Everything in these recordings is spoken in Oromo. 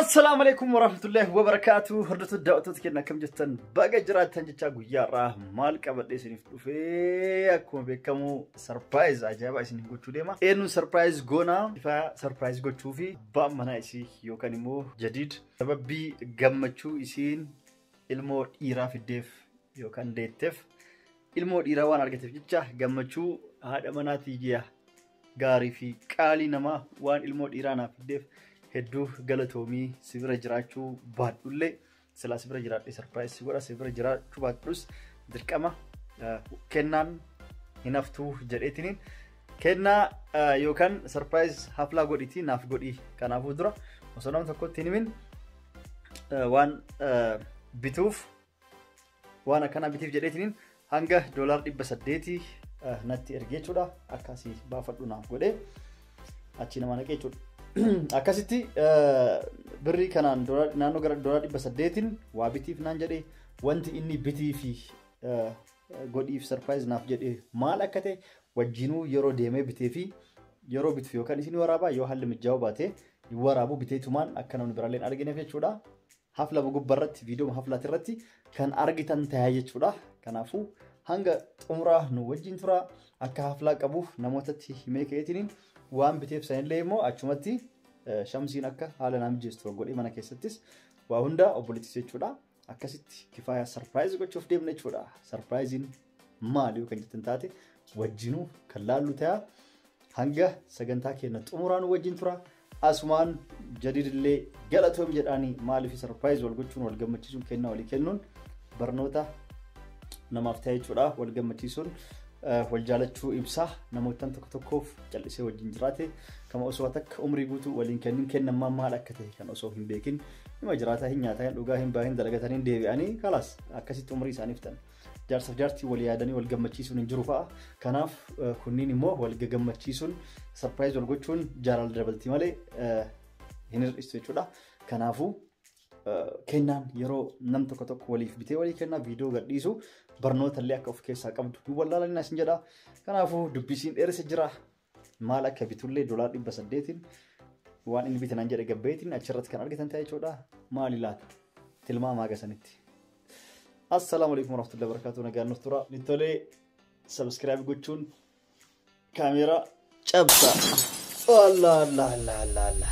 Assalaamu alaikum warahmatullahi wabarakatuh. Hordoftoota daawwattoota keenya akkam jirtan baga jiraattan jechaa guyyaa irraa maal qabadhee isiniif dhufee akkuma beekamu sarpiraayiz ajaa'ibaa isin gochuu deema. Eenyuun sarpiraayiz goona ifa sarpiraayiz gochuu fi abbaan manaa isii yookaan immoo jadiid sababii gammachuu isiin ilmoo dhiiraa fiddeef yookaan deetteef ilmoo dhiiraa waan argateef jecha gammachuu haadha manaatii ji'a gaarii fi qaalii namaa waan ilmoo dhiiraa naaf fiddeef hedduu galatoomii si bira jiraachuu baadhullee silaa si bira jiraadhe sarpiraayis si godha si bira jiraachuu baadhus dirqama eh, kennaan hin haftuu jedheetiniin kennaa eh, yookaan sarpiraayis haflaa godhitii naaf godhii kanaafuu dura osoo nama tokkotti hin himin eh, waan eh, bituuf Waan akkanaa bitiif jedheetiniin hanga doolaar dhibba saddeetii natti ergee jechuudha. Akkasii baafadhu naaf godhee achi nama naqee jechuudha. Akkasitti birrii kanaan naannoo gara doolaar dhibba saddeetiin waa bitiif naan jedhee wanti inni bitii fi godhiif sarpiraayiz naaf jedhee maal akka ta'e wajjinuu yeroo deemee bitee fi yeroo bituuf yookaan isin waraabaa yoo haalli mijaa'uu baate waraabu biteetumaan akka namni biraallee hin argineef jechuudha. hafla gubba irratti viidiyoo haflaati irratti kan argitan tayaa jechuudha. Kanaafuu hanga xumuraa nu wajjin tura akka haflaa qabuuf namootatti himee ka'eetiin waan biteef sanillee immoo achumatti shamsiin akka haala naa mijeessu godhee mana keessattis waa hundaa obboleettis jechuudha. Akkasitti kifaaya sarpiraayiz gochuuf deemna jechuudha. Sarpiraayiziin maali kan jettan taate wajjinuu kan laallu ta'a. Hanga sagantaa keenya xumuraan wajjin tura. Asumaan jadiidillee galatoom jedhaanii maaliif sarpiraayiz wal gochuun wal gammachiisuun kennaa walii kennuun barnoota namaaf ta'e jechuudha. Wal gammachiisuun wal jaalachuu ibsaa namoottan tokko tokkoof callisee wajjin jiraate kama osoo takka umrii guutuu waliin kennin kennammaa maal akka ta'e kan osoo hin beekin hima jiraataa hin nyaataa hin dhugaa hin baahin dalagatanii deebi'anii kalaas akkasitti umrii isaaniif ta'an. Jaarsaf jaartii wal yaadanii wal gammachiisuun hin jiru fa'a. Kanaaf kunniin immoo wal gammachiisuun sarpiraayiz wal gochuun jaalala dabalti malee hin hir'istu jechuudha. Kanaafuu kennaan yeroo nam tokko tokko waliif bitee walii kennaa viidiyoo gadhiisu barnoota illee akka of keessaa qabdu hin wallaalanii isin jedha. Kanaafuu dubbisiin dheeressa jira. Maal akka bitullee dolaar dhibba saddeetiin waan inni bite naan jedhe gabbeetiin achirratti kan argitan ta'e jechuudha. Maali laata? Tilmaama haga sanitti. Assalaamu alaikum warahmatullahi wabarakatuh nagaan nuuf tura. Nittolee sabiskiraayib gochuun kaameeraa cabsa. Allah Allah Allah Allah Allah.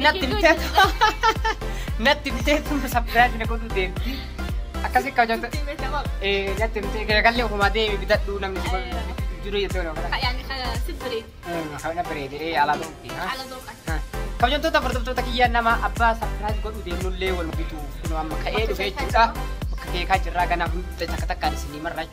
Natti biteetu. Natti biteetu sapiraayizi na godhuu deemti. Akkasii akka hojjetu. Natti bitee garagallee ofumaa deemi bitadhu namni si godhu. Jiru jettee walii ofiraa. Kana bareedee alaa ta'utti. Kabajamtoota hordoftoota kiyyaa nama abbaa sapiraayizi godhuu deemnullee wal bituu kunoo amma ka'ee dhufee jechuudha. Bakka keekaa jirraa ganaa hundi takka takkaan isinii marraa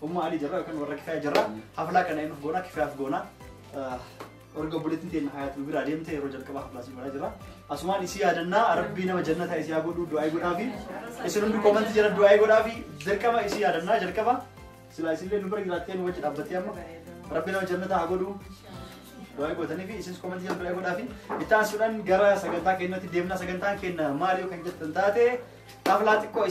Umma Ali jirra yookaan warra kifaya jirra. Haflaa kana eenyuuf goona kifayaaf goona. Orga obboleettiin teenya hayaat nu biraa deemte yeroo jalqaba haflaa siin godhaa jirra. Asumaan isii yaadannaa rabbii nama jannataa isii haa godhuu du'aa godhaa fi isin hundi koomantii jala du'aa godhaa fi dirqama isii yaadannaa jalqaba. Silaa isillee nu bira jiraattee nu wajji dhaabbattee amma rabbii nama jannataa haa godhuu du'aa gootanii fi isinis koomantii jala du'aa godhaa fi itti aansuudhaan gara sagantaa keenyatti deemna sagantaan keenya maali yoo kan jettan taate haflaa xiqqoo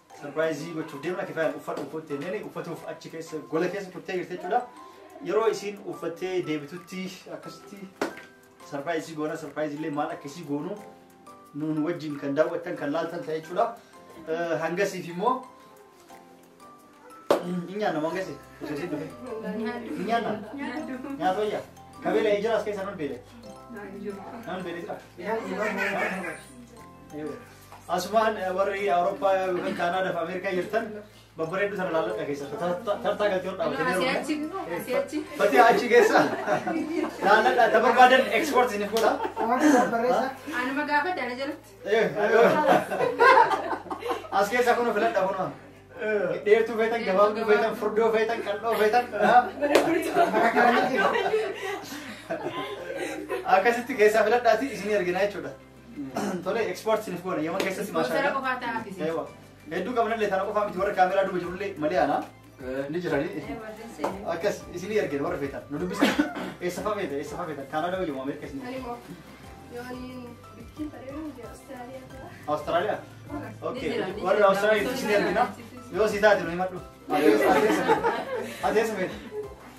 Sarpiraayizii gochuuf deemna kifayaan uffadhu uffatti jenneen uffatuuf achi keessa gola keessa turtee jirti jechuudha. Yeroo isiin uffattee deebitutti akkasitti sarpiraayizii goona sarpiraayizii illee maal akka isii goonu nuun wajjin kan daawwattan kan laaltan ta'e jechuudha. Eh, Hangasiif immoo hin nyaanna moo hangasi osoo isiin dhufe hin nyaanna nyaata wayya kabeela ijira as keessa nan beele nan beele jira. Yoo. Asumaan warri Awurooppaa yookaan Kaanaada fi Ameerikaa jirtan babbareedduu sana laalladha keessatti tartaa galtee hodhaa Asii achi, asii achi. Bati achi keessa laalladha ta barbaadan ekspoort isiniif godha. Anuma gaafa daala jalatti. As keessaa kun filadha kun dheertuu feetan gabaabduu feetan furdoo feetan qal'oo feetan akkasitti keessaa filadhaati isin ergina jechuudha. Tole export sinif goona yaman keessatti maashaa. Ispoonsara qofaa ta'aa akkasii. Eewa. Hedduu qabnallee tana qofaa miti warra kaameraa duuba jirullee malee ana ni jiranii. Akkas isinii ergeen warra feetan nu dubbisa. Eessa fa'aa feetan eessa fa'aa feetan Kaanaadaa wayyamu Ameerika isin. Awustiraaliyaa. Okay. Warra Awustiraaliyaa isin ergina. Yoo si taate nu himadhu. Adeessa feetan.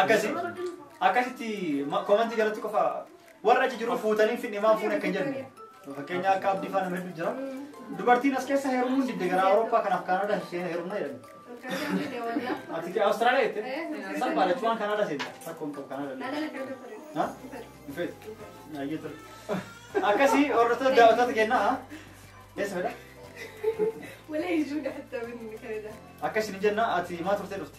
Akkasi akkasitti ma- komentii jalatti qofa warra achi jiru fuutanii fidhe maan fuune akka hin jenne. Fakkeenya akka abdii faana hedduu jira. Dubartiin as keessa heerumuun didde gara Awurooppaa kanaaf Kaanadaa isheen heerumna jedhan. Ati ke Awustiraaliyaa jette? Salphaa jechuun waan Kaanadaa seenta. Rakkoon qabu Kaanadaa. Ha? Dhufee. Ayyee ture. Akkasi hordoftoota daawwattoota kennaa. Eessa fedha? Akkasi ni jenna ati maa turtee dhufte?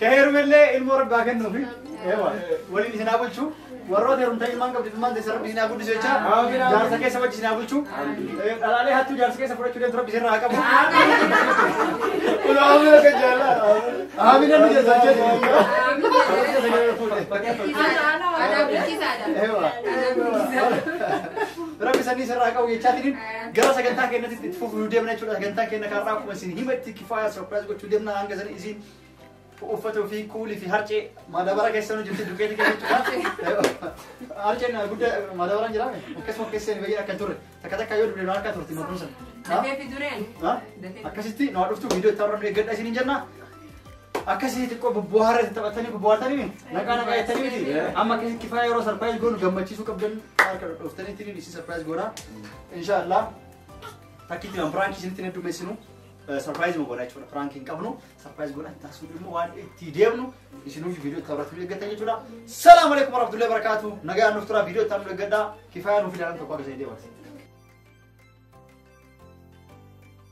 Ka heerumellee ilmoo rabbi haa kennuufi. Eewa. Waliin isin haa bulchu. Warroota heerumtaa ilmaan qabdi ilmaan teessan rabbi isin haa guddisu jecha. Jaarsa keessa wajji isin haa bulchu. Eh, Dhalaalee hattuu jaarsa keessa fudhachuu deemtu rabbi isin irraa haa qabu. Ulaamaa akka jaalaa. Aamina nu jessa jedhu. Eewa. Rabbi sanii isin irraa qabu jechaatiin gara sagantaa keenyatti itti fufuu deemna jechuudha. Sagantaa keenya kaarraa akkuma isin hima itti kifaaya surprise gochuu deemna hanga sanii isin uffatu fi kuuli fi harcee madabara keessa nu jirti dukeeti keessa harcee harceen guddaa madabaraan jiraame akkasuma keessa hin bayyee akka hin turre takka takka yoo dubbinu harka turti makuun san. Dafee fi dureen. Ha? Dafee. Akkasitti nu haa dhuftu viidiyoo itti argamne eeggadha isiniin jenna. Akkasii xiqqoo bubbuhaara itti taphatanii bubbuhaartanii miti. Naqaa naqaa jettanii miti. Amma akkasitti kifaa yeroo sarpiraayiz goonu gammachiisuu qabdan harka dhooftanii ittiin isin sarpiraayiz goona. Inshaallah. Takkitti waan biraankii isinitti hin heddummeessinu. Sarpiraayiz nu godha jechuudha. Piraank hin qabnu. Sarpiraayiz godha hin taasisnu immoo waan itti deemnu isinuuf viidiyoo itti taphatu eeggatan jechuudha. Salaamu alaikum warahmatullahi wabarakatuh. Nagaa nuuf tura viidiyoo itti taphatu eeggadhaa. Kifaaya nuuf ilaalan tokko akka ta'e deematu.